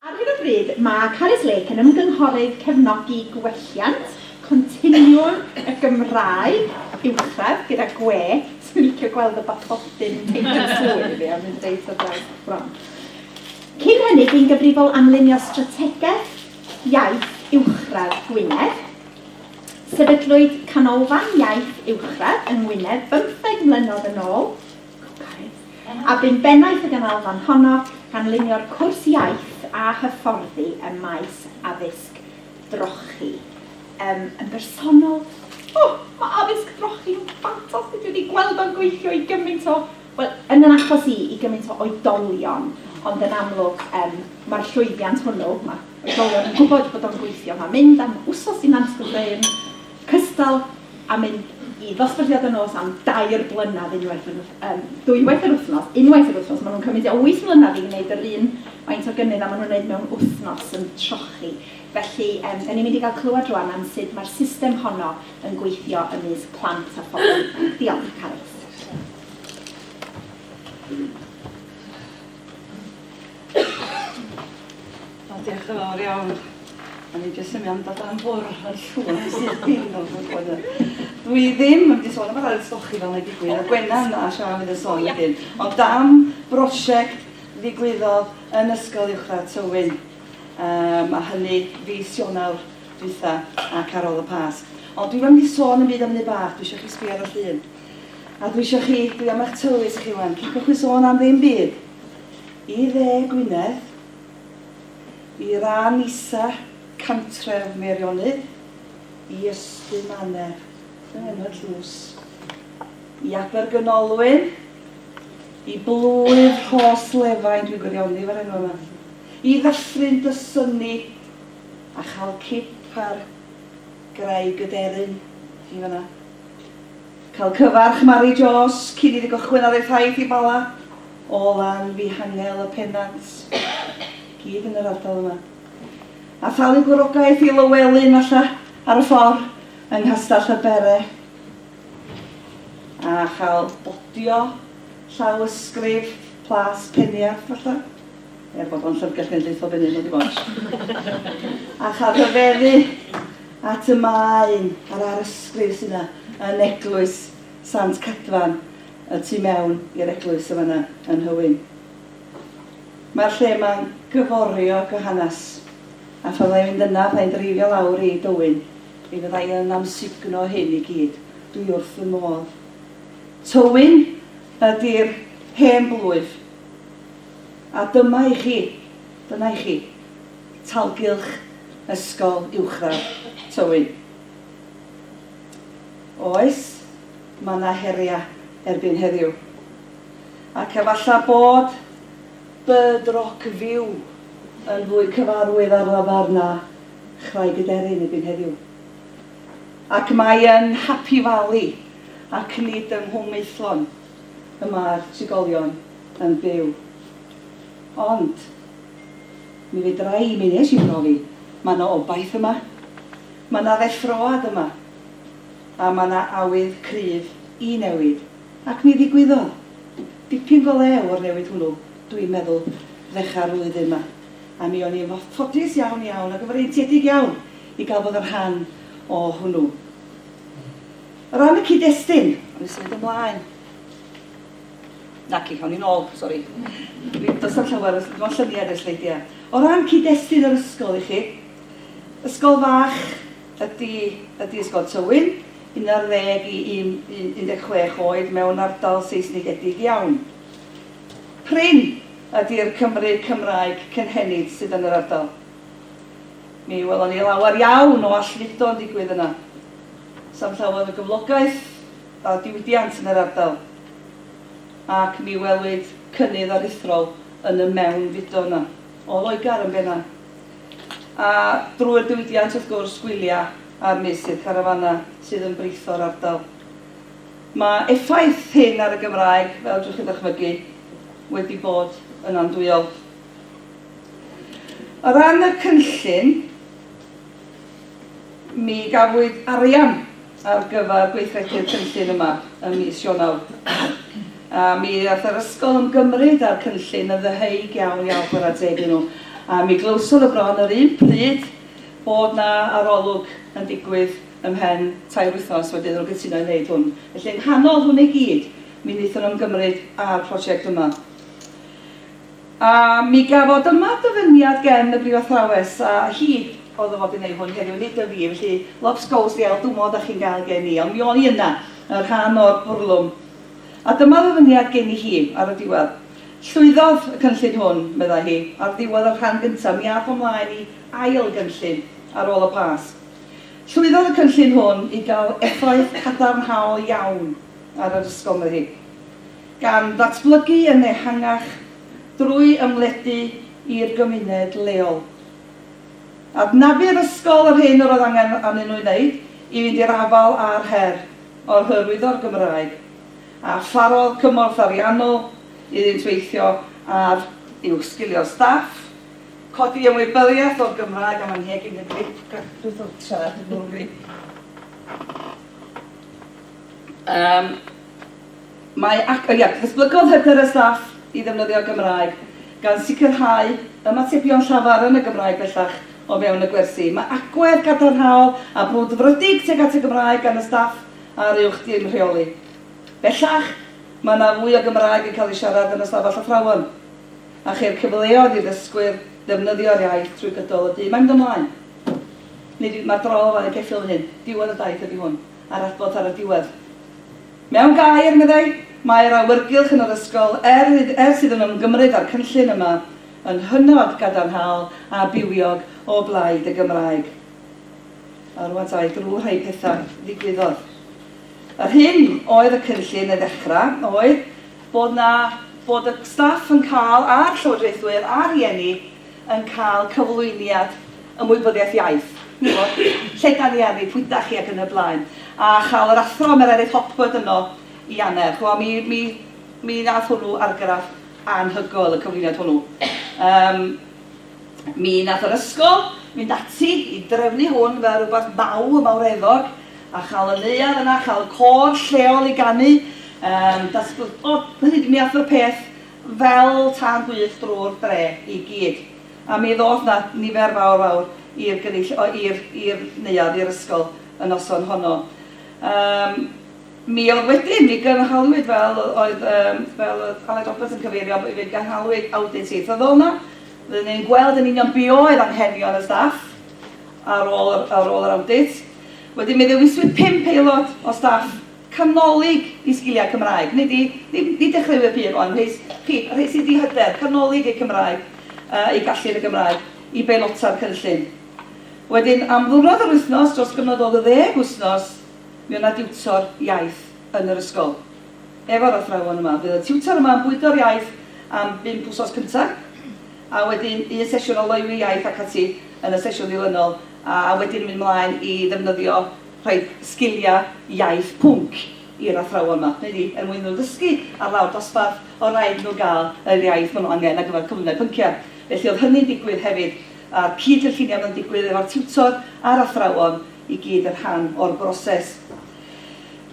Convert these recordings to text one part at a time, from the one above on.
Ar hyn o bryd mae Carys Lake yn ymgynghorydd cefnogi gwelliant continiwm y Gymraeg uwchradd gyda gwe sy'n licio gweld y bathodyn yn teithio yn swydd, ie, mae'n deud ar draws y fron. Cyn hynny, bu'n gyfrifol am lunio strategaeth iaith uwchradd Gwynedd. Sefydlwyd Canolfan Iaith Uwchradd yng Ngwynedd bymtheg mlynedd yn ôl, a bu'n bennaeth y ganolfan honno, gan lunio'r cwrs iaith a hyfforddi ym maes addysg drochi. Yym, yn bersonol, o, mae addysg drochi'n ffantastig, dwi wedi gweld o'n gweithio i gymaint o, wel, yn fy achos i, i gymaint o oedolion, ond yn amlwg, yym, mae'r llwyddiant hwnnw, mae oedolion yn gwybod bod o'n gweithio, mae mynd am wsos i Nant y Bryn, cystal a mynd i ddosbarthiad y nos am dair blynedd unwaith yr yym dwywaith yr wythnos, unwaith yr wythnos, maen nhw'n cymryd tua wyth mlynedd i wneud yr un faint o gynnydd a maen nhw'n wneud mewn wythnos yn trochi. Felly yym 'da ni'n mynd i gael clywed rŵan am sut mae'r system honno yn gweithio ymysg plant a phobl ifanc. Diolch, Carys. O, diolch yn fawr iawn. O'n i jyst yn mynd dod am bwrw yn llwyr sydd ddim yn gwybod. Dwi ddim yn mynd sôn am yr ailsgochi fel mae'n digwydd, a Gwenna yna a Sian fydd yn sôn wedyn. Ond dam brosiect ddigwyddodd yn Ysgol Uwchradd Tywyn, um, a hynny fi Sionawr dwytha ac ar ôl y Pasg. Ond dwi'n mynd i sôn yn byd am hynny bach, dwi eisiau chi sbio ar y llun. A dwi eisiau chi, dwi am eich tywys chi wan, cipwch chi sôn am ddim byd. I Dde Gwynedd, i ran isa Cantref Meirionnydd, i Ystum Annedd, dyna enw'r tlws, i Abergynolwyn, i Blwydd Rhos Lefain, dwi'n gwirioni efo'r enw yma, i Ddyffryn Dysynni a chael cip ar graig y deryn i fan'na. Cael cyfarch Mari Jones cyn iddi gychwyn ar ei thaith i Bala. o lan fy hangel y pennant, gyd yn yr ardal yma, a thalu gwrogaeth i Lywelyn falla ar y ffordd yng Nghastell y Bere, a chael bodio llaw ysgrif Plas Peniarth falla, er bod o'n llyfrgell genedlaethol Benin ydi o, a chael rhyfeddu at y maen a'r arysgrif sydd yna yn eglwys Sant Cadfan. y tu mewn i'r eglwys yn fan'na yn Nhywyn. Mae'r lle ma'n gyforiog o hanes, a phan fyddai'n mynd yna, fyddai'n dreifio lawr i Dywyn, mi fyddai yn amsugno hyn i gyd. Dwi wrth fy modd. Tywyn ydi'r hen blwyf. A dyma i chi, dyna i chi, talgylch ysgol uwchradd Tywyn. Oes? Mae 'na heriau erbyn heddiw. Ac efallai bod Bird Rock View yn fwy cyfarwydd ar lafar na Chraig y Deryn erbyn heddiw. Ac mae yn Happy Valley ac nid yng Nghwm Maethlon y mae'r trigolion yn byw. Ond, mi fedra i, mi wnes i brofi, mae 'na obaith yma. Mae 'na ddeffroad yma. A mae 'na awydd cryf i newid, ac mi ddigwyddodd. Dipyn go lew o'r newid hwnnw, dwi'n meddwl, ddechrau'r flwyddyn 'ma, a mi o'n i yn fodlodus iawn, iawn, ac yn freintiedig iawn i gael bod yn rhan o hwnnw. O ran y cyd-destun, awn ni symud ymlaen. Naci, awn ni'n ôl, sori. Dwi, does 'na'm llawer, does dim ond lluniau 'di'r sleidiau. O ran cyd-destun yr ysgol i chi, ysgol fach, Ydy, ydy Ysgol Tywyn, 11 i 16 oed mewn ardal Seisnigedig iawn. Prin ydy'r Cymry Cymraeg cynhenid sydd yn yr ardal. Mi welon ni lawer iawn o allfudo yn digwydd yna. Sam llawer o gyflogaeth a diwydiant yn yr ardal. Ac mi welwyd cynnydd aruthrol yn y mewnfudo yna. O Loegr yn benna. A drwy'r diwydiant wrth gwrs, gwylia a'r meysydd carafana sydd yn britho'r ardal. Mae effaith hyn ar y Gymraeg, fel drwch chi ddychmygu, wedi bod yn andwyol. O ran y cynllun, Mi gafwyd arian ar gyfer gweithredu'r cynllun yma ym mis Ionawr, a mi all yr ysgol ymgymryd â'r cynllun yn ddeheuig iawn iawn, chwarae teg i nhw. A mi glywsom y bron yr un pryd bod 'na arolwg yn digwydd ymhen tair wythnos wedyn iddyn nhw gytuno i wneud hwn. Felly, yng nghanol hwn i gyd, mi wnaethon nhw ymgymryd â'r prosiect yma. A mi gafodd dyma ddyfyniad gen y brifathrawes, a hi oedd o fod i wneud hwn heddiw, nid y fi, felly lops gows di ail dwmmo dach chi'n gael gen i, ond mi o'n i yna, yn rhan o'r bwrlwm. A dyma ddyfyniad gen i hi, ar y diwedd. Llwyddodd y cynllun hwn, meddai hi, ar ddiwedd y rhan gyntaf, mi ath o mlaen i ail gynllun ar ôl y Pasg. Llwyddodd y cynllun hwn i gael effaith cadarnhaol iawn ar yr ysgol, meddai hi. gan ddatblygu yn ehangach drwy ymledu i'r gymuned leol. Adnabu'r ysgol yr hyn yr oedd angen arnyn nhw ei wneud i fynd i'r afael â'r her o hyrwyddo'r Gymraeg, a pharodd cymorth ariannol iddynt weithio ar uwchsgilio'r staff, codi ymwybyddiaeth o'r Gymraeg am anheg ein hygyrchedd. Mae ac, ia, datblygodd hyder y staff i ddefnyddio'r Gymraeg, gan sicrhau ymatebion llafar yn y Gymraeg bellach o fewn y gwersi. Mae agwedd cadarnhaol a brwdfrydig tuag at y Gymraeg gan y staff a'r Uwch Dîm Rheoli. Bellach, mae yna fwy o Gymraeg yn cael ei siarad yn Ystafell Athrawon, a cheir cyfleoedd i ddysgwyr ddefnyddio'r iaith trwy gydol y dydd. Mae'n mynd ymlaen. Nid yw, mae'r drol o flaen y ceffyl fan hyn. Diwedd y daith ydy hwn, a'r adborth ar y diwedd. Mewn gair, meddai, mae yr awyrgylch yn yr ysgol, er idd, er sydd yn ymgymryd â'r cynllun yma, yn hynod gadarnhaol a bywiog o blaid y Gymraeg. A rŵan ta, i drwy rhai pethau ddigwyddodd. Yr hyn oedd y cynllun yn ddechrau oedd bod 'na, bod y staff yn cael, a'r llywodraethwyr, a'r rhieni, yn cael cyflwyniad ymwybyddiaeth iaith, ch'mod, lle 'dan ni arni, pwy 'dach chi ac yn y blaen. A chael yr Athro Mererid Hopwood yno i Anner, ch'mo' mi mi mi nath hwnnw argraff anhygoel y cyflwyniad hwnnw. Yym mi nath yr ysgol fynd ati i drefnu hwn fel rywbeth maw- mawreddog a chael y neuadd yna, chael y côr lleol i ganu, yym datbl- o hynny yw mi ath y peth fel tân gwyllt drwy'r dre i gyd, a mi ddoth 'na nifer fawr fawr i'r gynulli- o, i'r, i'r neuadd, i'r ysgol y noson honno. Yym, mi oedd wedyn, mi gynhaliwyd fel o- oedd, yym, fel oedd Aled Roberts yn cyfeirio, b- fe gynhaliwyd awdit ieithyddol 'na, roedden ni'n gweld yn union be oedd anghenion y staff ar ôl yr, ar ôl yr awdit. Wedyn mi ddewiswyd pump aelod o staff, Canolig i sgiliau Cymraeg. Nid i, nid, nid dechreuwyr pur ond rhei, chi, rhei sydd wedi hyder, canolig eu Cymraeg, yy, eu gallu yn y Gymraeg, i beilota'r cynllun. Wedyn, am ddiwrnod yr wythnos, dros gyfnod o ddeg wythnos, mi oedd 'na diwtor iaith yn yr ysgol, efo'r athrawon yma. Bydd y tiwtor yma yn bwydo'r iaith am bump wsos cynta, a wedyn un sesiwn o loywi iaith ac ati yn y sesiwn ddilynol, a wedyn yn mynd mlaen i ddefnyddio rhaid sgiliau iaith pwnc i'r athrawon 'ma, neu ni, er mwyn iddyn nhw ddysgu ar lawr dosbarth, o' raid iddyn nhw gael yr iaith ma' nhw angen ar gyfer cyflymder pynciau. Felly oedd hynny'n digwydd hefyd, a'r cyd-gynlluniau yma'n digwydd efo'r tiwtor a'r athrawon i gyd yn rhan o'r broses.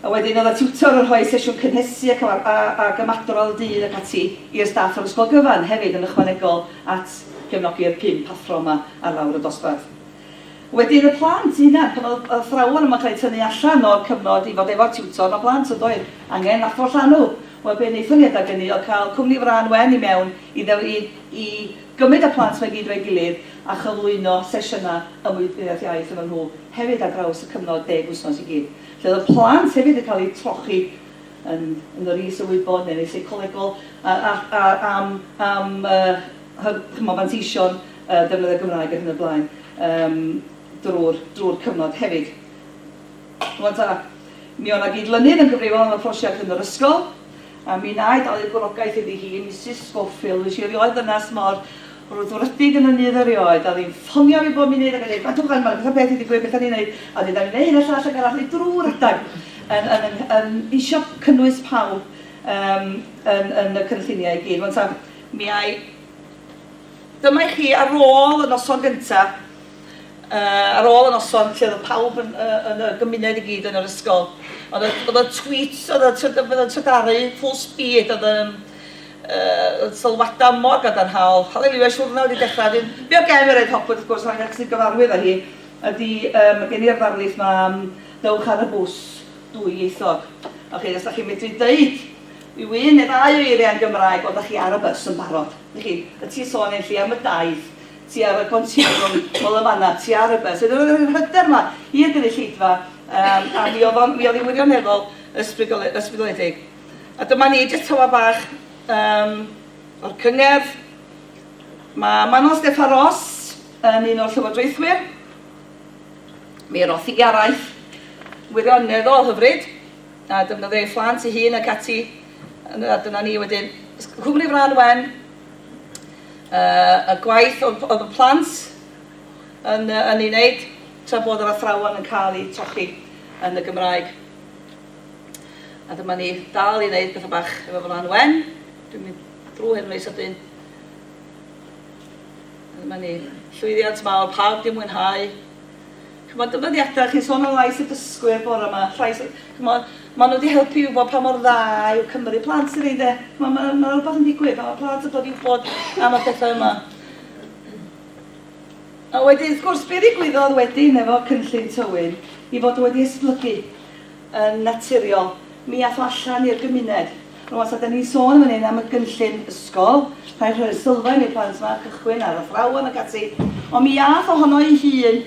A wedyn oedd y tiwtor yn rhoi sesiwn cynhesu a cyfar- a ag ymadrodd y dydd ac ati i'r staff yr ysgol gyfan hefyd yn ychwanegol at gefnogi'r pump athro 'ma ar lawr y dosbarth. Wedyn y plant eu hunain, pan oedd athrawon yma yn cael eu tynnu allan o'r cyfnod i fod efo'r tiwtor, mae plant yn doedd angen athro llanw. Wel, be wnaethon ni adeg ynny oedd cael cwmni frân wen i mewn i ddew- i i gymryd y plant 'ma i gyd efo'i gilydd a chyflwyno sesiynau ymwybyddiaeth iaith efo nhw hefyd ar draws y cyfnod deg wythnos i gyd. Felly oedd y plant hefyd yn cael eu trochi yn yn yr is-ymwybod neu'n is-seicolegol a a a am am y hy- ch'mod manteision defnydd y Gymraeg ar hyn o blaen yym drwy'r drwy'r cyfnod hefyd. Rwan ta, mi oedd 'na gyd-lynydd yn gyfrifol am y prosiect yn yr ysgol, a mi wna i dalu'r gwrogaeth iddi hi, Misus Scofield, wnes i erioed ddynas mor frwdfrydig yn ynni iddo erioed, a oedd hi'n ffonio fi bob munud ac yn dweud, gwrandwch rwan, mae 'na pethau peth wedi digwydd, beth 'da ni'n wneud, a wedyn 'da ni'n gwneud hyn a llall ac arall, neu drwy redeg, yn, yn, yn, yn isio cynnwys pawb um, yn, yn y cynlluniau i gyd. Rwan ta, mi ai Dyma i chi ar ôl y noson gynta', yy, ar ôl y noson lle oedd pawb yn yy yn y gymuned i gyd yn yr ysgol. Oedd y oedd y tweets, oedd y twyd- oedd y twydaru full speed, oedd y yym yy y sylwadau mor gadarnhaol, Haleliwia, siwrna wedi dechrau, wedyn, be oedd gen Mairead Hopwood wrth gwrs, ac sy'n gyfarwydd â hi, ydi yy ma' gen i'r ddarlith 'ma am Dewch ar y Bws dwyieithog. Y'ch chi, os dach chi'n medru deud Yw un neu ddau o eiriau yn Gymraeg o da chi ar y bus yn barod? Dych chi, y ti'n sôn Enlli am y daith, ti ar y continwwm nol yn fan'na, ti ar y bus. Wedyn oedd yr hyder 'ma i'r gynulleidfa yym a mi oedd o'n mi oedd hi'n wirioneddol ysbrydol- ysbrydoledig. A dyma ni, jyst tawa bach yym o'r cyngerdd. Mae Manon Steffan Ros yn un o'r llywodraethwyr. Mi roth hi araith wirioneddol hyfryd. a defnyddio ei phlant ei hun ac ati, a dyna ni wedyn. Cwmni y Frân Wen, y gwaith oedd y plant yn, yn ei wneud tra bod yr athrawon yn cael eu trochi yn y Gymraeg. A dyma ni dal i wneud pethau bach efo Frân Wen. Dwi'n mynd drwy hyn rei sydyn. Dyma ni llwyddiant mawr, pawb di mwynhau. Ch'mod y dyddiada, chi'n sôn am lais y dysgwyr bore 'ma, llais y... Ch'mod, ma' nhw 'di helpu i wybod pa mor dda yw Cymru. Plant sydd ynde? Ch'mod ma' ma' 'na rywbeth yn digwydd pan ma' plant yn dod i wybod am y pethau yma. A wedyn wrth gwrs, be ddigwyddodd wedyn efo cynllun Tywyn i fod wedi esblygu? yn naturiol, mi ath o allan i'r gymuned. Rŵan, ta 'dan ni'n sôn yn fan hyn am y gynllun ysgol, rhai rhoi sylfaen i'r plant 'ma, cychwyn ar athrawon ac ati, ond mi ath o hono'i hun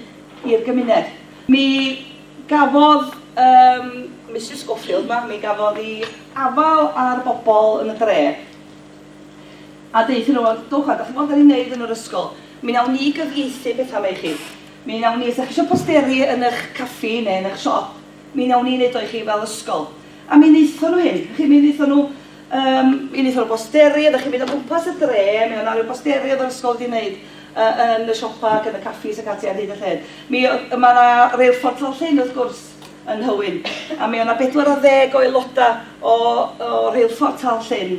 i'r gymuned. Mi gafodd yym Misus Scofield 'ma, mi gafodd 'i afael ar bobl yn y dre, a deuthon nhw, 'Dwch 'wan, 'dach chi'n gweld be' 'dan ni'n neud yn yr ysgol? Mi nawn ni gyfieithu petha' 'ma i chi. Mi wnawn ni, os dach chi isio posteri yn ych caffi neu yn ych siop, mi wnawn ni wneud o i chi fel ysgol. A mi wnaethon nhw hyn, chi, mi wnaethon nhw, yym, mi wnaethon nhw bosteri, oeddech chi'n mynd o gwmpas y dre, mi oedd 'na ryw bosteri oedd yr ysgol wedi wneud yy yn y siopa ac yn y caffis ac ati ar hyd y lled. Mi oedd, ma' 'na reilffordd Tal Llyn wrth gwrs yn Nhywyn, a mi oedd 'na bedwar ar ddeg o aelodau o o reilffordd Tal Llyn,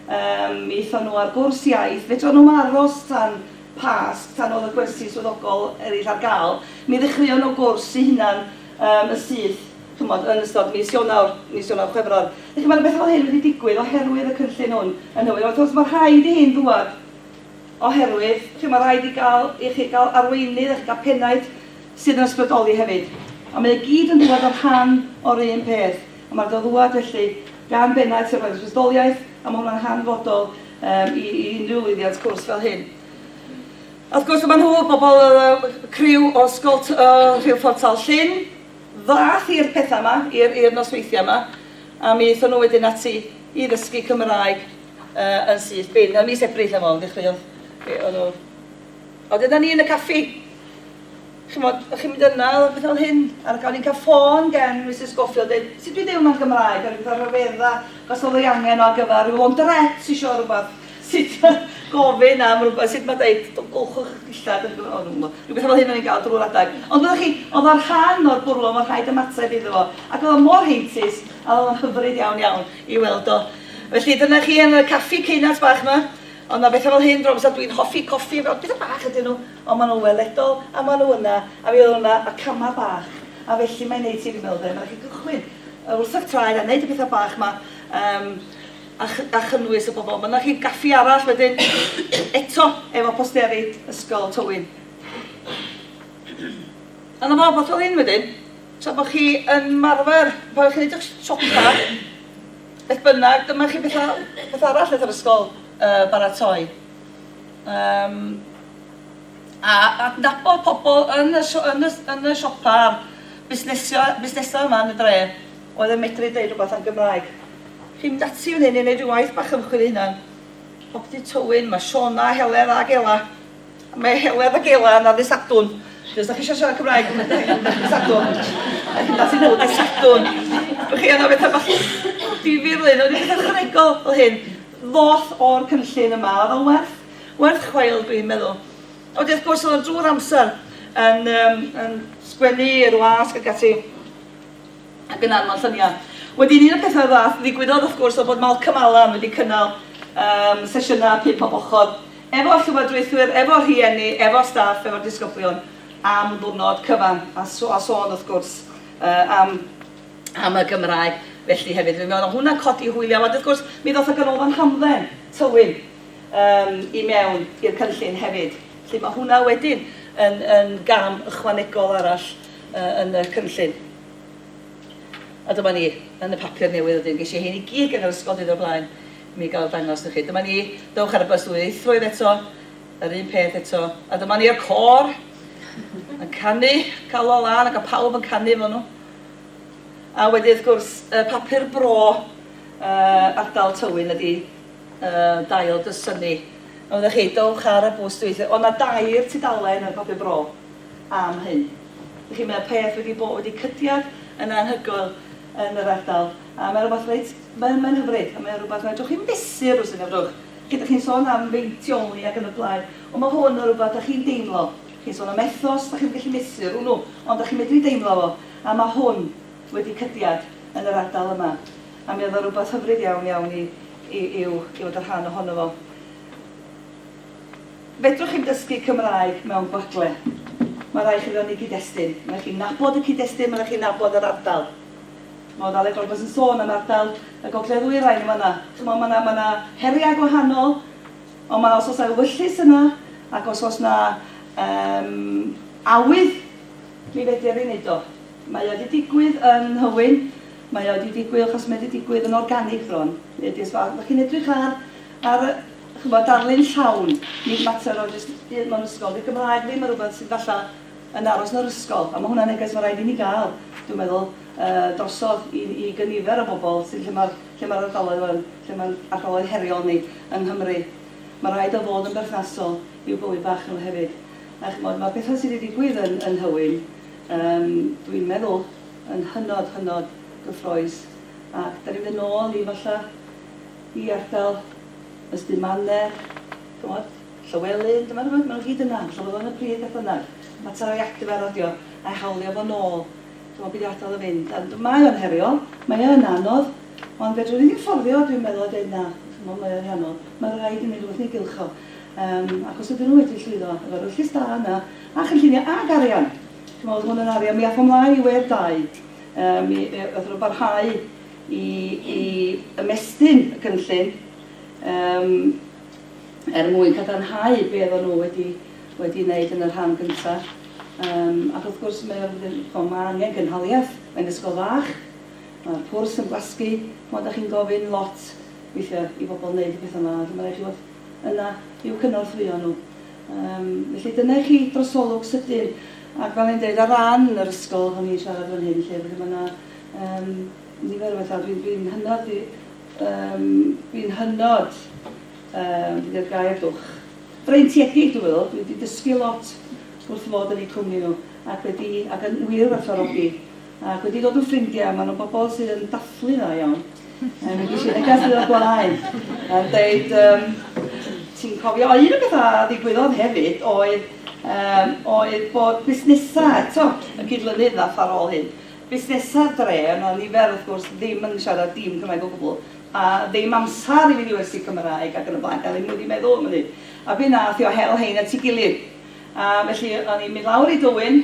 yym, mi aethon nhw ar gwrs iaith, fedrwn nhw ddim aros tan Pasg, tan oedd y gwersi swyddogol eraill ar gael, mi ddechreuon nhw gwrs eu hunain yym yn syth, chimod, yn ystod mis Ionawr, mis Ionawr, Chwefror. Dych chi'n gwbod, mae 'na bethau fel hyn wedi digwydd oherwydd y cynllun hwn yn Nhywyn. Wrth gwrs, mae rhaid i hyn ddŵad oherwydd, chimod, mae rhaid i gael, i chi gael arweinydd a chi gael pennaeth sydd yn ysbrydoli hefyd. A mae o i gyd yn dŵad yn rhan o'r un peth. A mae o 'di dod ddŵad, felly, gan bennaeth sy'n rhoi'r ysbrydoliaeth, A mae hwnna'n hanfodol um, i, i unrhyw lwyddiant cwrs fel hyn. A wrth gwrs, mae nhw, bobl, uh, criw o Ysgol uh, Rheilffordd Tal Llyn, ddath i'r pethau yma, i'r nosweithiau yma, a mi eithon nhw wedyn ati i ddysgu Cymraeg uh, yn syth bin. Ym mis Ebrill efo, ddechreuodd, o'n nhw A dyna ni yn y caffi. Chimod, o'ch chi'n mynd yna, oedd pethau fel hyn. A gawn ni'n cael ffôn gen Misus Scofield deud, sut dwi deud hwnna yn Gymraeg? Gawn ni pethau rhyfeddau, os oedd ei angen o ar gyfer rhyw launderette isio rhywbeth. Sut gofyn am rhywbeth, sut mae deud, golchwch eich dillad yn Gymraeg, o dwi'm yn gwybod. Rhyw bethau fel hyn o'n ni'n gael drwy'r adeg. Ond wyddoch chi, oedd o'n rhan o'r bwrlwm, oedd rhaid ymateb iddo fo. Ac oedd o mor heintus, a oedd o'n hyfryd iawn iawn i weld o. Felly, dyna chi yn y caffi ceunant bach 'ma. Ond ma betha fel hyn drwg so dwi'n hoffi coffi efo petha bach ydyn nhw ond ma nhw weledol a ma nhw yna a mi oedd hwnna y cama bach a felly mae'n neud ti meddwl de ma raid chi gychwyn yy wrth ych traed a neud y petha bach ma yym a ch- a chynnwys y bobl ma na chi gaffi arall wedyn eto efo posteri ysgol Tywyn a na fo wbath fel hyn wedyn tra bo chi yn marfer pan o'ch chi'n neud ych siopa Beth bynnag, dyma chi beth, beth arall wnaeth yr ysgol uh, baratoi. Um, a adnabod pobl yn y, yn y, yn y siopa'r busnesau, busnesau yma yn y dre oedd yn medru deud rhywbeth am Gymraeg. Chi'n mynd ati fan hyn i wneud rhyw waith bach ymchwil hunan. Popty Tywyn, mae Siona, Heledd a Gela Mae Heledd a Gela yna ddydd Sadwrn. Os da chi eisiau siarad Cymraeg, ddydd Sadwrn. Da chi'n dal sy'n nhw ddydd Sadwrn. Bych chi anna bethau bach difyr lyn, ond bethau chwanegol fel hyn. Ddoth o'r cynllun yma, oedd o'n werth, werth chwael dwi'n meddwl. Ond wrth gwrs oedd o'n drwy'r amser yn, um, yn sgwennu i'r wasg ac ati ac yn anfon lluniau. Wedyn un o'r pethau ddath ddigwyddodd wrth gwrs oedd bod Malcolm Allan wedi cynnal um, sesiynau pum pob ochr efo llywodraethwyr, efo rhieni, efo staff, efo disgyblion am ddiwrnod cyfan a a sôn wrth gwrs uh, am am y Gymraeg felly hefyd. Fi'n meddwl hwnna codi hwyliau. Ond wrth gwrs, mi ddoth y ganolfan hamdden Tywyn um, i mewn i'r cynllun hefyd. Felly mae hwnna wedyn yn, yn gam ychwanegol arall uh, yn y cynllun. A dyma ni, yn y papur newydd ydyn, ges i hyn i gyd gan yr ysgol dydd o'r blaen. Mi gael dangos i chi. Dyma ni. Dowch ar y bws ddwyieithroedd eto. Yr un peth eto. A dyma ni a'r côr yn canu, cael o lan ac a pawb yn canu efo nhw. A wedi wrth gwrs, y papur bro uh, ardal Tywyn ydi uh, dail dy syni. Oeddech chi, dowch ar y bws dwyieithroedd. Ond na dair tudalen yn papur bro am hyn. Felly mae peth wedi bod wedi cydiad yn anhygoel yn yr ardal. A mae rhywbeth reit... mae'n... mae'n hyfryd, a mae o'n rhywbeth, fedrwch chi fesur os fedrwch. Chi, dach chi'n sôn am feintioli ac yn y blaen, ond mae hwn yn rhywbeth dach chi'n deimlo. Chi'n sôn am ethos, dach chi'm yn gallu mesur hwnnw, ond dach chi'n medru deimlo fo, a mae hwn wedi cydiad yn yr ardal yma. A mi oedd o'n rhywbeth hyfryd iawn, iawn i i i'w i fod yn rhan ohono fo. Fedrwch chi'm dysgu Cymraeg mewn gwagle. Mae'n rhaid i chi fewn i gyd-destun. Mae'n rhaid i chi nabod y cyd-destun, mae'n rhaid i chi nabod yr ardal. Ch'mod fel oedran bois yn sôn am ardal y gogledd ddwyrain yn fan'na. Ch'mod ma' 'na ma' 'na heriau gwahanol ond ma' os o's 'na ewyllys yna ac os o's 'na yym awydd mi fedr ni neud o. Mae o 'di digwydd yn Nhywyn, mae o 'di digwydd achos mae o 'di digwydd yn organig bron. Hynny ydi os ma' os 'da chi'n edrych ar ar y ch'mod darlun llawn nid mater o jyst un mewn ysgol. 'Di'r Gymraeg ddim yn rwbeth sydd falla yn aros yn yr ysgol, a ma' hwnna'n neges ma' raid i ni ga'l, dwi'n meddwl, yy drosodd i i gynifer o bobol sydd lle ma'r lle ma'r ardaloedd yn lle ma'n ardaloedd heriol ni yng Nghymru. Ma' raid o fod yn berthnasol i'w bywyd bach nhw hefyd. A ch'mod ma'r petha sy' 'di digwydd yn yn Nhywyn yym dwi'n meddwl yn hynod hynod gyffrous ac 'dan ni'n mynd yn ôl i falla i ardal Ystumane ch'mod? Llywelyn, dyma nhw, maen nhw i gyd yna, rhoddodd o yn y pridd beth bynnag, mater o iactio fe a rodio, a'i hawlio fo nôl, dyma be ddiodd o fynd, a mae o'n heriol, mae o yn anodd, ond fedrwn ni ddim fforddio, dwi'n meddwl, a deud na, ch'mod, mae o'n anodd, mae'n rhaid i ni rywbeth neu gylch o, yym, ac os ydyn nhw wedi llwyddo efo'r wyllys da yna, a chynllunio, ac arian, ch'mod, oedd hwn yn arian, mi ath o mlaen i wedd dau, yy, mi athon nhw barhau i i ymestyn y cynllun, yym, er mwyn cadarnhau be oedden nhw wedi wedi ei wneud yn y rhan gyntaf. Um, ac wrth gwrs mae ma angen gynhaliaeth, mae'n ysgol fach, mae'r pwrs yn blasgu, mae ydych chi'n gofyn lot weithiau i bobl wneud y pethau yma, ac mae'n rhaid chi fod yna i'w cynorthwyo nhw. Um, felly dyna i chi drosolwg sydyn, ac fel i'n dweud, ar ran yr ysgol, o'n i'n siarad fan hyn, lle mae yna um, Nifer o bethau. Dwi, dwi'n hynod ddi-, yym, dwi'n hynod, yym, be di'r gair, dwch? Freintiedig, dwi'n meddwl. Dwi wedi dysgu lot wrth fod yn eu cwmni nhw, ac wedi, ac yn wir werthfawrogi, ac wedi dod yn ffrindiau. Maen nhw'n bobl sydd yn dathlu dda iawn. Yym, mi ges i neges ddiwrnod o'r blaen yn deud, yym, ti'n cofio. A un o'r pethau a ddigwyddodd hefyd oedd, yym, oedd bod busnesau eto yn cydlynydd â Ffarwol hŷn. busnesau dre, ond o'n i fel, wrth gwrs, ddim yn siarad dim Cymraeg o gwbl, a ddim amser i fynd i wersi Cymraeg ac yn y blaen, gael i mwyn i meddwl am hynny. A wedyn aeth o hel hein at ei gilydd. A felly o'n i'n mynd lawr i Dwyn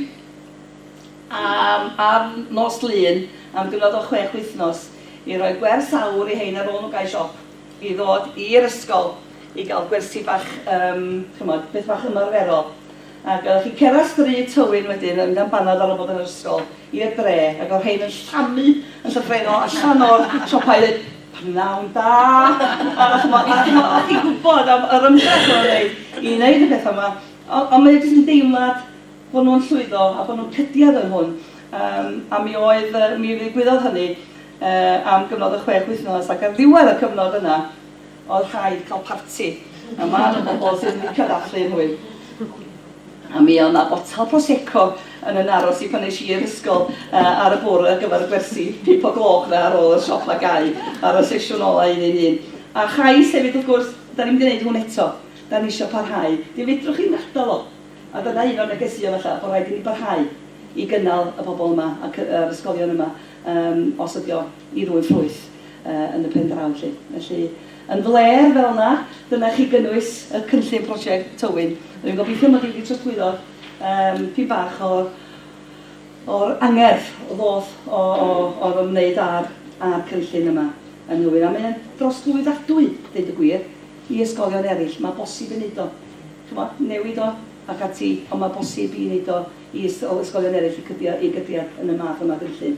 am ar nos Lun am gyfnod o chwech wythnos i roi gwers aur i hein ar ôl nhw gau siop i ddod i'r ysgol i gael gwersi bach, yym, chimod, beth bach ymarferol. Ac oeddech chi'n cerdded Stryd Tywyn wedyn yn mynd am banad ar ol bod yn yr ysgol, i'r dre, ac odd rhein yn llamu yn llythrennol allan o'r siopau ddeud, Pnawn da! A ch'mo', a ch'mo', o' chi'n gwbod am yr ymdrech o' nw'n neud i neud y petha 'ma. O- ond mae o jyst yn deimlad bo' nw'n llwyddo a bo' nw'n cydiad yn hwn. Yym, a mi oedd yy mi ddigwyddodd hynny yy am gyfnod o chwech wythnos, ac ar ddiwedd y cyfnod yna, Oedd rhaid cael parti yma am y bobl sydd wedi cyddathlu yn hwyr. A mi oedd 'na botel prosecco yn yn aros i pan es i i'r ysgol ar y bore ar gyfer y gwersi, pump o gloch 'na ar ôl i'r siop 'na gau ar y sesiwn ola un un un. A chais hefyd wrth gwrs, 'da ni'n mynd i wneud hwn eto, 'da ni isio parhau. Fe fedrwch chi ddim gadael o. A dyna un o'r negeseuon falla, bod rhaid i ni barhau i gynnal y pobl yma a'r ysgolion yma os ydi o i rywun ffrwyth yn y pen draw felly. Felly, yn flêr fel yna, dyna chi gynnwys y cynllun prosiect Tywyn. Rwy'n gobeithio mod i wedi trosglwyddo dipyn bach o'r angerdd ddoth o'r ymwneud â'r cynllun yma yn Nhywyn. A mae o'n drosglwyddadwy, deud y gwir, i ysgolion eraill. Mae bosib ei wneud o, chibod, newid o ac ati, ond mae bosib i wneud o i ysgolion eraill i gydio yn y math yma o gynllun.